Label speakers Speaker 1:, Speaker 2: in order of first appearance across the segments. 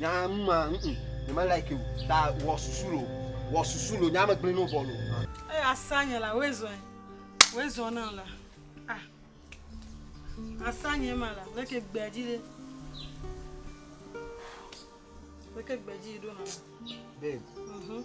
Speaker 1: Nyaa nu ma ŋ ŋ nye me like o ta wɔ susu lo wɔ susu lo nyaa me gblẽ no vɔ lo. Eye asa nye
Speaker 2: la woe zɔe woe zɔ na la ah asa nye ma la leke gbea dzi ɖe leke gbea dzi ɖo na. Babe.
Speaker 1: Mhm.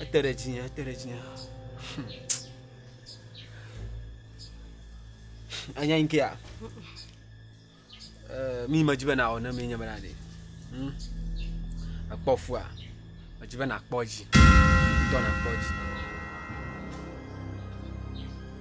Speaker 1: Ete ɖe dzinye, ete ɖe dzinye. Anya yi kea? Eh, mi medzi be nawɔ ne mi nye be na ɖe. Hm? Ekpɔ fua. Medzi be nakpɔ dzi. Tɔ nakpɔ dzi.